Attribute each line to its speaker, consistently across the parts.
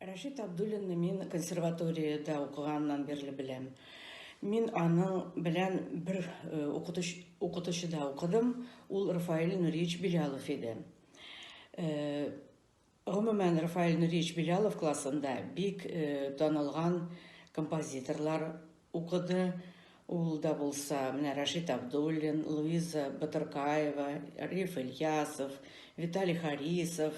Speaker 1: Рәшит Абдуллинны мин консерваториядә укыганнан бирле беләм. Мин аның белән бер э, укытыш, укытучыда укыдым. Ул Рафаэль Нуриевич Белялов иде. Э, гомумән, Рафаэль Нуриевич Белялов классында бик э, танылган композиторлар укыды. Ул да булса, менә Рашид Абдуллин, Луиза Батыркаева, Риф Ильясов, Виталий Харисов,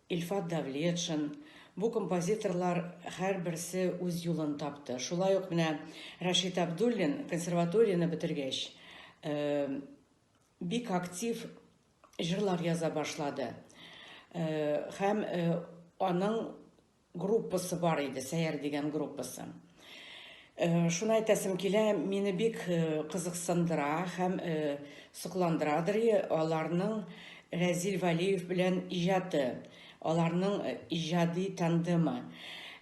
Speaker 1: Илфат Давлетшин, бу композиторлар һәрберсе үз юлын тапты. Шулай ук менә Рәшит Абдуллин консерваторияне бетергәч, бик актив җырлар яза башлады. Һәм аның группасы бар иде, Сәяр дигән группасы. Э, шуны әйтәсем килә, мине бик э, кызыксындыра һәм э, сокландырадыр аларның Рәзил Валиев белән иҗаты, аларның иҗади тандемы.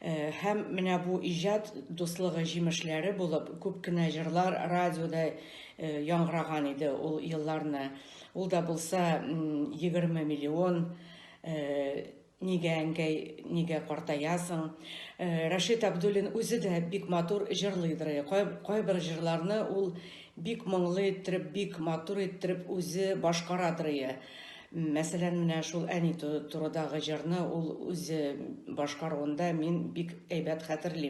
Speaker 1: Һәм менә бу иҗат дуслыгы җимешләре булып, күп кенә җырлар радиода яңгыраган иде ул елларны. Ул да булса 20 миллион Нигә, әнкәй, нигә картаясың? Рәшит Абдуллин үзе дә бик матур җырлыйдыр. Кайбер җырларны ул бик моңлы иттереп, бик матур иттереп үзе башкарадыр. Мәсәлән, менә шул әни турыдагы җырны ул үзе башкаруында мин бик әйбәт хәтерлим.